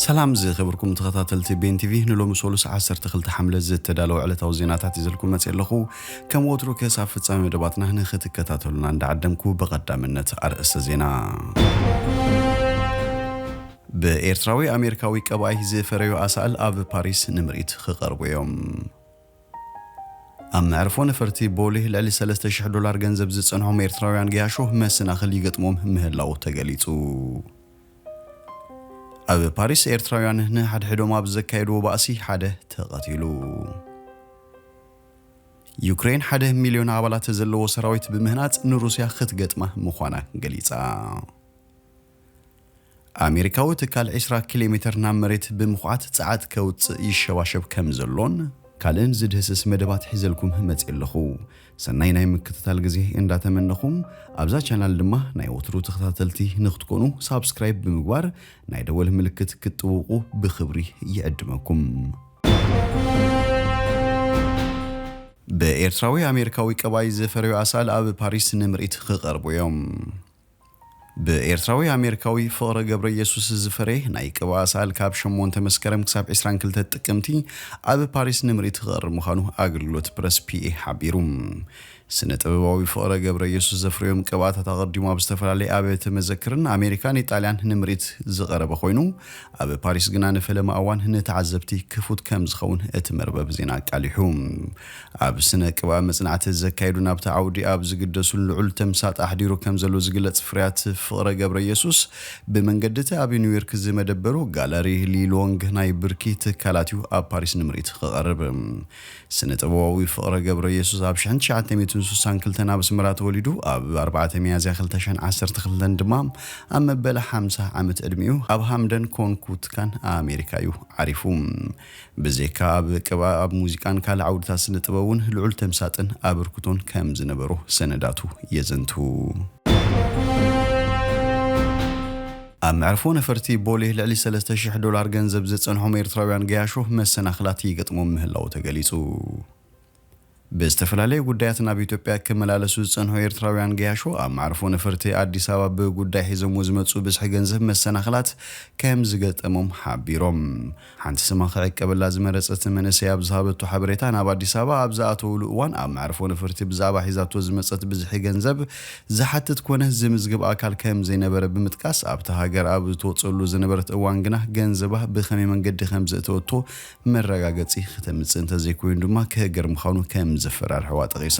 ሰላም ዝኸበርኩም ተኸታተልቲ ቤን ቲቪ ንሎሚ ሰሉስ 12 ሓምለ ዝተዳለወ ዕለታዊ ዜናታት ይዘልኩም መፅእ ኣለኹ ከም ወትሩ ክሳብ ፍፃሜ መደባትና ንክትከታተሉና እንዳዓደምኩ ብቐዳምነት ኣርእስተ ዜና ብኤርትራዊ ኣሜሪካዊ ቀባይ ዝፈረዩ ኣሳእል ኣብ ፓሪስ ንምርኢት ክቐርቡ እዮም ኣብ መዕርፎ ነፈርቲ ቦሌ ልዕሊ ሰለስተ ሽሕ ዶላር ገንዘብ ዝጸንሖም ኤርትራውያን ገያሾ መሰናኽል ይገጥሞም ምህላዉ ተገሊጹ። ኣብ ፓሪስ ኤርትራውያን ንሓድሕዶም ኣብ ዘካየድዎ ባእሲ ሓደ ተቐቲሉ። ዩክሬን ሓደ ሚልዮን ኣባላት ዘለዎ ሰራዊት ብምህናጽ ንሩስያ ክትገጥማ ምዃና ገሊጻ። ኣሜሪካዊ ትካል ዕስራ ኪሎሜተር ናብ መሬት ብምኹዓት ጸዓት ከውጽእ ይሸባሸብ ከም ዘሎን፣ ካልእን ዝድህስስ መደባት ሒዘልኩም መጽየ ኣለኹ። ሰናይ ናይ ምክትታል ግዜ እንዳ ተመነኹ፣ ኣብዛ ቻናል ድማ ናይ ወትሩ ተኸታተልቲ ንክትኮኑ ሳብስክራይብ ብምግባር ናይ ደወል ምልክት ክትጥውቑ ብኽብሪ ይዕድመኩም። ብኤርትራዊ ኣሜሪካዊ ቀባይ ዝፈረዩ ኣሳእል ኣብ ፓሪስ ንምርኢት ክቐርቡ እዮም። ብኤርትራዊ ኣሜሪካዊ ፍቕረ ገብረየሱስ ዝፈረየ ናይ ቅብኣ ሰኣል ካብ ሸሞንተ መስከረም ክሳብ ዕስራን ክልተ ጥቅምቲ ኣብ ፓሪስ ንምርኢት ክቐርብ ምዃኑ ኣገልግሎት ፕረስ ፒኤ ሓቢሩ። ስነ ጥበባዊ ፍቕረ ገብረየሱስ ዘፍረዮም ቅብኣታት ኣቐዲሙ ኣብ ዝተፈላለየ ኣብያተ መዘክርን ኣሜሪካን ኢጣልያን ንምርኢት ዝቐረበ ኮይኑ ኣብ ፓሪስ ግና ንፈለማ እዋን ንተዓዘብቲ ክፉት ከምዝኸውን እቲ መርበብ ዜና ኣቃሊሑ። ኣብ ስነ ቅብኣ መጽናዕቲ ዘካየዱን ኣብቲ ዓውዲ ኣብ ዝግደሱን ልዑል ተምሳጥ ኣሕዲሩ ከም ዘሎ ዝግለጽ ፍርያት ፍቕረ ገብረየሱስ፣ ብመንገዲ'ቲ ኣብ ኒውዮርክ ዝመደበሩ ጋለሪ ሊ ሎንግ ናይ ብርኪ ትካላት'ዩ ኣብ ፓሪስ ንምርኢት ክቐርብ። ስነ ጥበባዊ ፍቕረ ገብረየሱስ ኣብ ሽሕን ትሽዓተ ሚእትን ስሳን ክልተን ኣብ ኣስመራ ተወሊዱ ኣብ ኣርባዕተ ሚያዝያ ክልተ ሽሕን ዓሰርተ ክልተን ድማ ኣብ መበል ሓምሳ ዓመት ዕድሚኡ ኣብ ሃምደን ኮንኩትካን ኣሜሪካ'ዩ ዓሪፉ። ብዜካ ኣብ ቅብኣ ኣብ ሙዚቃን ካልእ ዓውድታት ስነ-ጥበብ'ውን ልዑል ተምሳጥን ኣበርክቶን ከም ዝነበሮ ሰነዳቱ የዘንትዉ። ኣብ መዕርፎ ነፈርቲ ቦሌ ልዕሊ ሰለስተ ሽሕ ዶላር ገንዘብ ዘጸንሖም ኤርትራውያን ገያሾ መሰናኽላት ይገጥሞም ምህላዉ ተገሊጹ። ብዝተፈላለየ ጉዳያት ናብ ኢትዮጵያ ክመላለሱ ዝጸንሑ ኤርትራውያን ገያሾ ኣብ መዕርፎ ነፈርቲ ኣዲስ ኣበባ ብጉዳይ ሒዞምዎ ዝመጽኡ ብዝሒ ገንዘብ መሰናኽላት ከም ዝገጠሞም ሓቢሮም። ሓንቲ ስማ ክዕቀበላ ዝመረጸት መንእሰይ ኣብ ዝሃበቶ ሓበሬታ ናብ ኣዲስ ኣበባ ኣብ ዝኣተዉሉ እዋን ኣብ መዕርፎ ነፈርቲ ብዛዕባ ሒዛቶ ዝመጸት ብዝሒ ገንዘብ ዝሓትት ኮነ ዝምዝግብ ኣካል ከም ዘይነበረ ብምጥቃስ ኣብታ ሃገር ኣብ እትወጸሉ ዝነበረት እዋን ግና ገንዘባ ብኸመይ መንገዲ ከም ዘእተወቶ መረጋገጺ ክተምጽእ እንተዘይኮይኑ ድማ ክህገር ምዃኑ ከም ዘፈራርሕዋ ጠቒሳ፣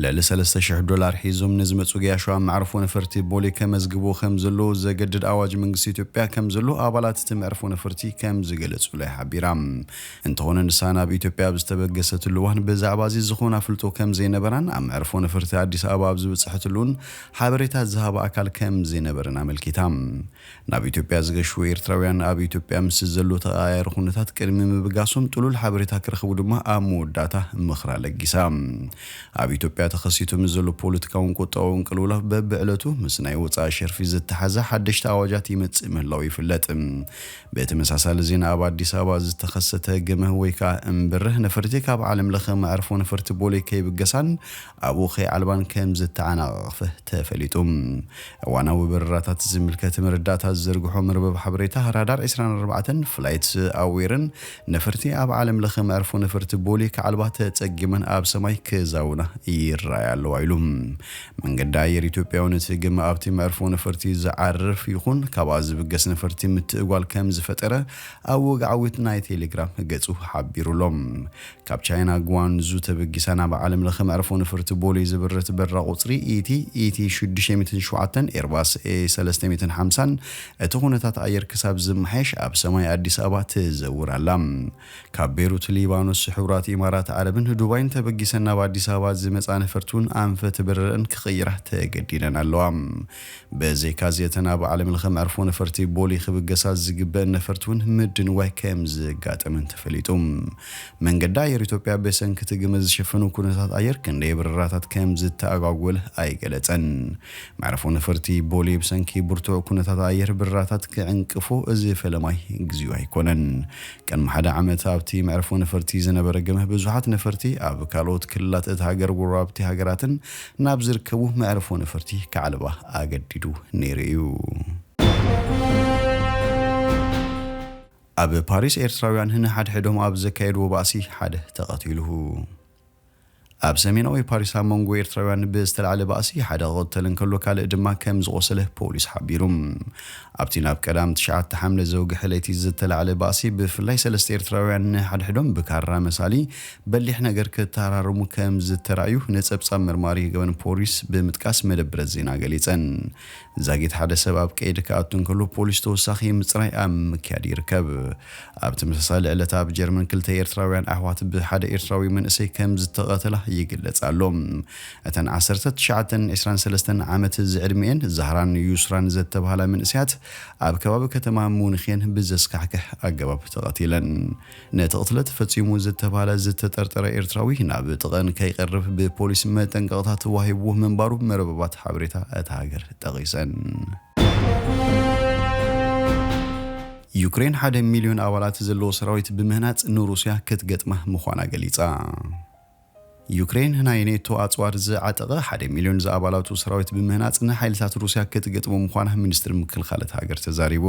ልዕሊ ሰለስተ ሽሕ ዶላር ሒዞም ንዝመጹ ገያሾ ኣብ መዕርፎ ነፈርቲ ቦሌ ከመዝግብዎ ከም ዘለዉ ዘገድድ ኣዋጅ መንግስቲ ኢትዮጵያ ከም ዘሎ ኣባላት እቲ መዕርፎ ነፈርቲ ከም ዝገለጹለይ ሓቢራ። እንተኾነ ንሳ ናብ ኢትዮጵያ ኣብ ዝተበገሰትሉ እዋን ብዛዕባ'ዚ ዝኾነ ኣፍልጦ ከም ዘይነበራን ኣብ መዕርፎ ነፈርቲ ኣዲስ ኣበባ ኣብ ዝበጽሐትሉ እውን ሓበሬታ ዝሃባ ኣካል ከም ዘይነበረን ኣመልኪታ። ናብ ኢትዮጵያ ዝገሹ ኤርትራውያን ኣብ ኢትዮጵያ ምስ ዘሎ ተቐያያሪ ኩነታት ቅድሚ ምብጋሶም ጥሉል ሓበሬታ ክረኽቡ ድማ ኣብ መወዳእታ ምኽራ ለጊሳ። ኣብ ኢትዮጵያ ተኸሲቱ ምስ ዘሎ ፖለቲካውን ቁጠባውን ቅልውላው በብዕለቱ ምስ ናይ ወጻኢ ሸርፊ ዝተሓሓዘ ሓደሽቲ ኣዋጃት ይመጽእ ምህላዉ ይፍለጥ። ብተመሳሳሊ ዜና ኣብ ኣዲስ ኣበባ ዝተኸሰተ ግመ ወይ ከኣ እምብርህ ነፈርቲ ካብ ዓለምለኸ መዕርፎ ነፈርቲ ቦሌ ከይብገሳን ኣብኡ ከይዓልባን ከም ዝተዓናቐቕፈ ተፈሊጡ። እዋናዊ በረራታት ዝምልከት መረዳእታ ዝዝርግሖ መርበብ ሓበሬታ ራዳር ዕስራን ኣርባዕተን፣ Flight Aware፣ ን ነፈርቲ ኣብ ዓለም ለኸ መዕርፎ ነፈርቲ ቦሌ ክዓልባ ተጸጊመን ኣብ ሰማይ ክዛውና ይረኣያ ኣለዋ ኢሉ። መንገዲ ኣየር ኢትዮጵያ'ውን እቲ ግመ ኣብቲ መዕርፎ ነፈርቲ ዝዓርፍ ይኹን ካብኣ ዝብገስ ነፈርቲ ምትእጓል ከም ዝፈጠረ ኣብ ወግዓዊት ናይ ቴሌግራም ገጹ ሓቢሩ'ሎ። ካብ ቻይና ግዋንዙ ተበጊሳ ናብ ዓለም ለኸ መዕርፎ ነፈርቲ ቦሌ ዘብረት በረራ ቁፅሪ ET ET ሽዱሽተ ሚእትን ሸውዓተን Airbus A ሰለስተ ሚእትን ሓምሳን እቲ ኩነታት ኣየር ክሳብ ዝመሓየሽ ኣብ ሰማይ ኣዲስ ኣበባ ትዘውር ኣላ። ካብ ቤሩት ሊባኖስ፣ ሕቡራት ኢማራት ዓረብን ዱባይን ተበጊሰን ናብ ኣዲስ ኣበባ ዝመፅኣ ነፈርቲ እውን ኣንፈት በረረኣን ክቕይራ ተገዲደን ኣለዋ። ብዘይካዚ እተን ኣብ ዓለምለኸ መዕርፎ ነፈርቲ ቦሌ ክብገሳ ዝግበእን ነፈርቲ ውን ምድንጓይ ከምዝጋጠመን ተፈሊጡ። መንገዲ ኣየር ኢትዮጵያ ብሰንኪ እቲ ግመ ዝሸፈኑ ኩነታት ኣየር ክንደይ በረራታት ከምዝተኣጓጎለ ኣይገለፀን። መዕርፎ ነፈርቲ ቦሌ ብሰንኪ ብርቱዕ ኩነታት ኣየር በረራታት ክዕንቅፎ እዚ ፈለማይ ግዚኡ ኣይኮነን። ቅድሚ ሓደ ዓመት ኣብቲ መዕርፎ ነፈርቲ ዝነበረ ግመ ብዙሓት ነፈርቲ ኣብ ካልኦት ክልላት እታ ሃገር ጎረባብቲ ሃገራትን ናብ ዝርከቡ መዕርፎ ነፈርቲ ክዓልባ ኣገዲዱ ነይሩ እዩ። ኣብ ፓሪስ ኤርትራውያን ንሓድሕዶም ኣብ ዘካየድዎ ባእሲ ሓደ ተቐቲሉ። ኣብ ሰሜናዊ ፓሪስ ኣብ መንጎ ኤርትራውያን ብዝተላዕለ ባእሲ ሓደ ክቕተል እንከሎ ካልእ ድማ ከምዝቖሰለ ፖሊስ ሓቢሩ። ኣብቲ ናብ ቀዳም ትሽዓተ ሓምለ ዘውግሐ ለይቲ ዝተላዕለ ባእሲ፣ ብፍላይ ሰለስተ ኤርትራውያን ንሓድሕዶም ብካራ መሳሊ በሊሕ ነገር ክተሃራረሙ ከም ዝተራእዩ ነጸብጻብ መርማሪ ገበን ፖሊስ ብምጥቃስ መደብረ ዜና ገሊጸን። ዛጊት ሓደ ሰብ ኣብ ቀይዲ ክኣቱ እንከሎ ፖሊስ ተወሳኺ ምጽራይ ኣብ ምክያድ ይርከብ። ኣብ ተመሳሳሊ ዕለት ኣብ ጀርመን ክልተ ኤርትራውያን ኣሕዋት ብሓደ ኤርትራዊ መንእሰይ ከም ዝተቐተላ ይግለጽ ኣሎ። እተን ዓሰርተ ትሽዓተን ዕስራን ሰለስተን ዓመት ዝዕድሚኤን ዛህራን ዩስራን ዘተብሃላ መንእሰያት ኣብ ከባቢ ከተማ ሙኒኽ'የን ብዘስካሕክሕ ኣገባብ ተቐቲለን። ነቲ ቅትለት ፈጺሙ ዝተብሃለ ዝተጠርጠረ ኤርትራዊ ናብ ጥቐኣን ከይቀርብ ብፖሊስ መጠንቀቕታ ተዋሂብዎ ምንባሩ መርበባት ሓበሬታ እታ ሃገር ጠቒሰን። ዩክሬን ሓደ ሚልዮን ኣባላት ዘለዎ ሰራዊት ብምህናጽ ንሩስያ ክትገጥማ ምዃና ገሊጻ። ዩክሬን ናይ ኔቶ ኣጽዋር ዝዓጠቐ ሓደ ሚልዮን ዝኣባላቱ ሰራዊት ብምህናጽ ንሓይልታት ሩስያ ክትገጥሞ ምዃና ሚኒስትሪ ምክልኻል እታ ሃገር ተዛሪቡ።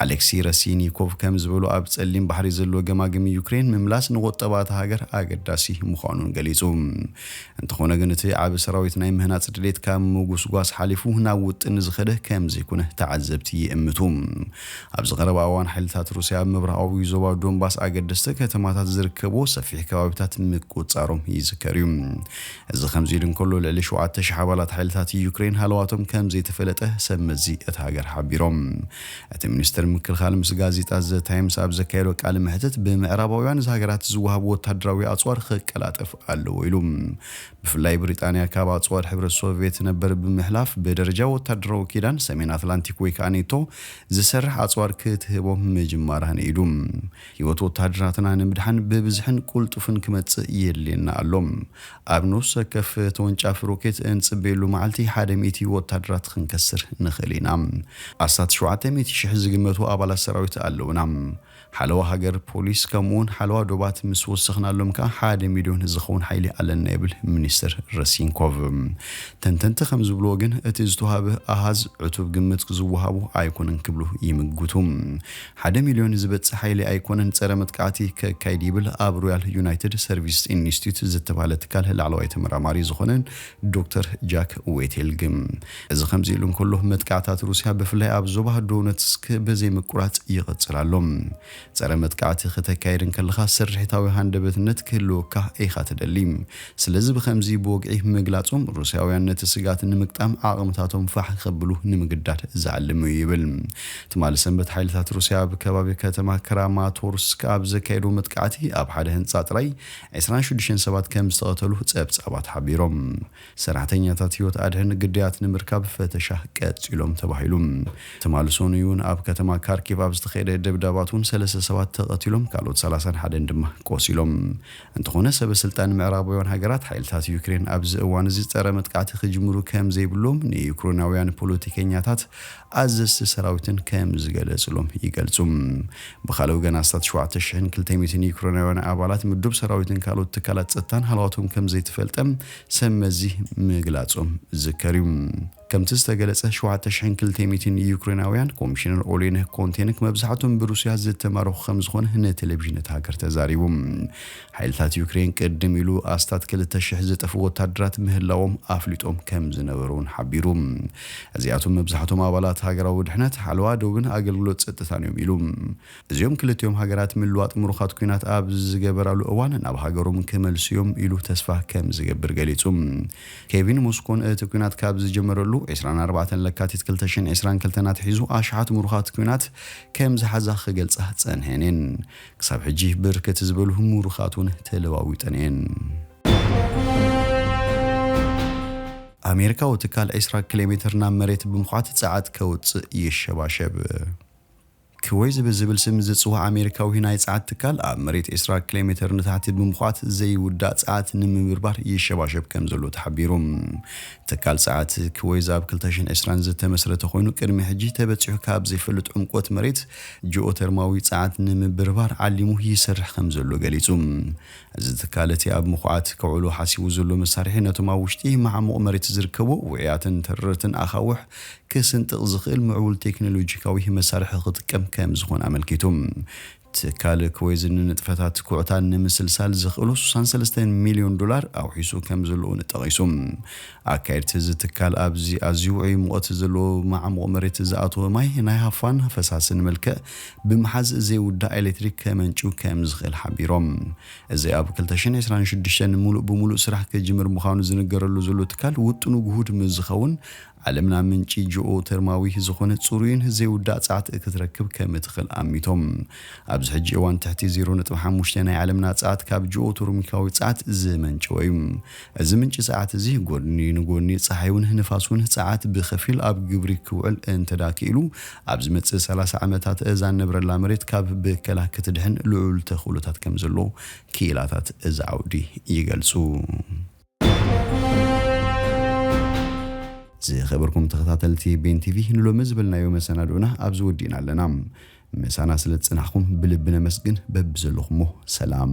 ኣሌክሲ ረሲይኒኮቭ ከም ዝበሎ ኣብ ጸሊም ባሕሪ ዘሎ ገማግም ዩክሬን ምምላስ ንቑጠባ እታ ሃገር ኣገዳሲ ምዃኑን ገሊጹ። እንተኾነ ግን እቲ ዓቢ ሰራዊት ናይ ምህናጽ ድሌት ካብ ምጉስጓስ ሓሊፉ ናብ ውጥን ዝኸደ ከም ዘይኮነ ተዓዘብቲ ይእምቱ። ኣብዚ ቀረባ እዋን ሓይልታት ሩስያ ኣብ ምብራቓዊ ዞባ ዶንባስ ኣገደስቲ ከተማታት ዝርከብዎ ሰፊሕ ከባቢታት ምቁጽጻሮም ይዝከር እዩ። እዚ ከምዚ ኢሉ እንከሎ ልዕሊ ሸውዓተ ሽሕ ኣባላት ሓይልታት ዩክረይን ሃለዋቶም ከም ዘይተፈለጠ ሰብ መዚ እታ ሃገር ሓቢሮም። እቲ ሚኒስተር ምክልኻል ምስ ጋዜጣ ዘ ታይምስ ኣብ ዘካየዶ ቃለ መሕትት ብምዕራባውያን ሃገራት ዝወሃብ ወተሃደራዊ ኣጽዋር ክቀላጠፍ ኣለዎ ኢሉ። ብፍላይ ብሪጣንያ ካብ ኣጽዋር ሕብረት ሶቭየት ነበር ብምሕላፍ ብደረጃ ወታደራዊ ኪዳን ሰሜን ኣትላንቲክ ወይ ከኣ ኔቶ ዝሰርሕ ኣጽዋር ክትህቦም ምጅማራ ንኢዱ። ህይወት ወተሃደራትና ንምድሓን ብብዝሕን ቁልጡፍን ክመጽእ የድልየና ኣሎ። ኣብ ነፍሲ ወከፍ ተወንጫፊ ሮኬት እንጽበየሉ መዓልቲ ሓደ ሚእቲ ወተሃደራት ክንከስር ንኽእል ኢና። ኣስታት ሸውዓተ ሚእቲ ሽሕ ዝግመቱ ኣባላት ሰራዊት ኣለውና። ሓለዋ ሃገር፣ ፖሊስ፣ ከምኡ'ውን ሓለዋ ዶባት ምስ ወሰኽናሎም ከኣ ሓደ ሚልዮን ዝኸውን ሓይሊ ኣለና ይብል ሚኒስተር ረሲንኮቭ። ተንተንቲ ከም ዝብልዎ ግን እቲ ዝተውሃበ ኣሃዝ ዕቱብ ግምት ዝወሃቦ ኣይኮነን ክብሉ ይምጉቱ። ሓደ ሚልዮን ዝበጽሕ ሓይሊ ኣይኮነን ጸረ መጥቃዕቲ ከካይድ ይብል ኣብ ሮያል ዩናይትድ ሰርቪስስ ኢንስቲትዩት ዝተባህለ ትካል ላዕለዋይ ተመራማሪ ዝኾነ ዶክተር ጃክ ዌቴል ግን፣ እዚ ከምዚ ኢሉ እንከሎ፣ መጥቃዕታት ሩስያ ብፍላይ ኣብ ዞባ ዶነትስክ ብዘይ ምቁራጽ ይቕጽል ኣሎ። ጸረ መጥቃዕቲ ከተካይድ እንከለኻ ስርሒታዊ ሃንደበትነት ክህልወካ ኢኻ ትደሊ። ስለዚ ብኸምዚ ብወግዒ ምግላጾም፣ ሩስያውያን ነቲ ስግኣት ንምግጣም ዓቕምታቶም ፋሕ ከብሉ ንምግዳድ ዝዓለመ እዩ ይብል። ትማሊ ሰንበት ሓይልታት ሩስያ ኣብ ከባቢ ከተማ ክራማቶርስክ ኣብ ዘካየድዎ መጥቃዕቲ ኣብ ሓደ ህንጻ ጥራይ ዕስራን ሽዱሽተን ሰባት ከም ዝተቐተሉ ጸብጻባት ሓቢሮም። ሰራሕተኛታት ህይወት ኣድሕን ግዳያት ንምርካብ ፈተሻ ቀጺሎም ተባሂሉ። ትማሊ ሰኑይ'ውን ኣብ ከተማ ካርኪቭ ኣብ ዝተኻየደ ደብዳባት'ውን ሰለስተ ሰባት ተቐቲሎም ካልኦት ሰላሳን ሓደን ድማ ቆሲሎም። እንተኾነ ሰበ ስልጣን ምዕራባውያን ሃገራት ሓይልታት ዩክሬን ኣብዚ እዋን'ዚ ጸረ መጥቃዕቲ ክጅምሩ ከም ዘይብሎም ንዩክሬናውያን ፖለቲከኛታት ኣዘዝቲ ሰራዊትን ከም ዝገለጽሎም ይገልጹ። ብኻልእ ወገን ኣስታት ሸውዓተ ሽሕን ክልተ ሚእትን ዩክሬናውያን ኣባላት ምዱብ ሰራዊትን ካልኦት ትካላት ጸጥታን ሃለዋቶም ከም ዘይተፈልጠ ሰብ መዚ ምግላጾም ዝዝከር እዩ። ከምቲ ዝተገለጸ ሸውዓተ ሽሕን ክልተ ሚእትን ዩክሬናውያን ኮሚሽነር ኦሌነህ ኮንቴንክ መብዛሕቶም ብሩስያ ዝተማረኹ ከም ዝኾነ ንቴሌቪዥን እታ ሃገር ተዛሪቡ። ሓይልታት ዩክሬን ቅድም ኢሉ ኣስታት ክልተ ሽሕ ዝጠፍኡ ወታደራት ምህላዎም ኣፍሊጦም ከም ዝነበሩ'ውን ሓቢሩ። እዚኣቶም መብዛሕቶም ኣባላት ሃገራዊ ድሕነት፣ ሓለዋ ዶብን ኣገልግሎት ጸጥታን'ዮም ኢሉ። እዚኦም ክልቲኦም ሃገራት ምልዋጥ ምሩኻት ኲናት ኣብ ዝገበራሉ እዋን ናብ ሃገሮም ክመልሱ'ዮም ኢሉ ተስፋ ከም ዝገብር ገሊጹ። ኬቭን ሞስኮን እቲ ኲናት ካብ ዝጀመረሉ ዕስራን ኣርባዕተን ለካቲት ክልተ ሽሕን ዕስራን ክልተን ኣትሒዙ ኣሽሓት ምሩኻት ኲናት ከም ዝሓዛ ክገልጻ ጸንሐን'የን። ክሳብ ሕጂ ብርክት ዝበሉ ሙሩኻት ውን ተለዋዊጠን እየን። ኣሜሪካዊ ትካል ዕስራ ክሌሜትር ናብ መሬት ብምኹዓት ጸዓት ከውጽእ ይሸባሸብ። ክወይዝ ብዝብል ስም ዝጽዋዕ ኣሜሪካዊ ናይ ጸዓት ትካል ኣብ መሬት ዕስራ ክሌሜትር ንታሕቲ ብምኹዓት ዘይውዳእ ጸዓት ንምብርባር ይሸባሸብ ከምዘሎ ተሓቢሩ። ትካል ጸዓት ክወይዝ ኣብ ክልተ ሽሕን ዕስራን ዝተመስረተ ኮይኑ ቅድሚ ሕጂ ተበጺሑ ካብ ዘይፈልጥ ዕምቆት መሬት ጂኦተርማዊ ጸዓት ንምብርባር ዓሊሙ ይሰርሕ ከምዘሎ ገሊጹ። እዚ ትካል እቲ ኣብ ምኹዓት ከውዕሎ ሓሲቡ ዘሎ መሳርሒ ነቶም ኣብ ውሽጢ ማዕሙቕ መሬት ዝርከቡ ውዑያትን ተረርትን ኣኻውሕ ክስንጥቕ ዝኽእል ምዕቡል ቴክኖሎጂካዊ መሳርሒ ክጥቀም ከምዝኾነ ኣመልኪቱ። ትካል ክወይዝ ንንጥፈታት ኩዕታ ንምስልሳል ዘኽእሎ ስሳን ሰለስተን ሚልዮን ዶላር ኣውሒሱ ከምዘሎ'ውን ጠቒሱ። ኣካየድቲ እዚ ትካል ኣብዚ ኣዝዩ ውዑይ ሙቐት ዘለዎ መዓሙቕ መሬት ዝኣተወ ማይ ናይ ሃፋን ፈሳስን መልክዕ ብምሓዝ ዘይውዳእ ኤሌክትሪክ ከመንጭው ከም ዝኽእል ሓቢሮም። እዚ ኣብ ክልተ ሽሕን ዕስራን ሽዱሽተን ሙሉእ ብሙሉእ ስራሕ ክጅምር ምዃኑ ዝንገረሉ ዘሎ ትካል ውጥኑ ግሁድ ምስ ዝኸውን ዓለምና ምንጪ ጂኦተርማዊ ዝኾነ ፅሩይን ዘይውዳእ ፀዓት ክትረክብ ከም እትኽእል ኣሚቶም። ኣብዚ ሕጂ እዋን ትሕቲ ዜሮ ነጥቢ ሓሙሽተ ናይ ዓለምና ፀዓት ካብ ጂኦተርሚካዊ ፀዓት ዝመንጨወ እዩ። እዚ ምንጪ ጸዓት እዚ ጎድኒ ንጎድኒ ጸሓይውን ንፋስውን ጸዓት ብኸፊል ኣብ ግብሪ ክውዕል እንተድኣ ክኢሉ ኣብ ዝመጽእ ሰላሳ ዓመታት እዛ እንነብረላ መሬት ካብ ብከላ ክትድሕን ልዑል ተኽእሎታት ከም ዘሎ ክኢላታት እዚ ዓውዲ ይገልጹ። ዝኸበርኩም ተኸታተልቲ ቤን ቲቪ ንሎሚ ዝበልናዮ መሰናድኦና ኣብዚ ወዲእና ኣለና። ምሳና ስለ ዝጸናሕኩም ብልቢ ነመስግን በብዘለኹሞ ሰላም።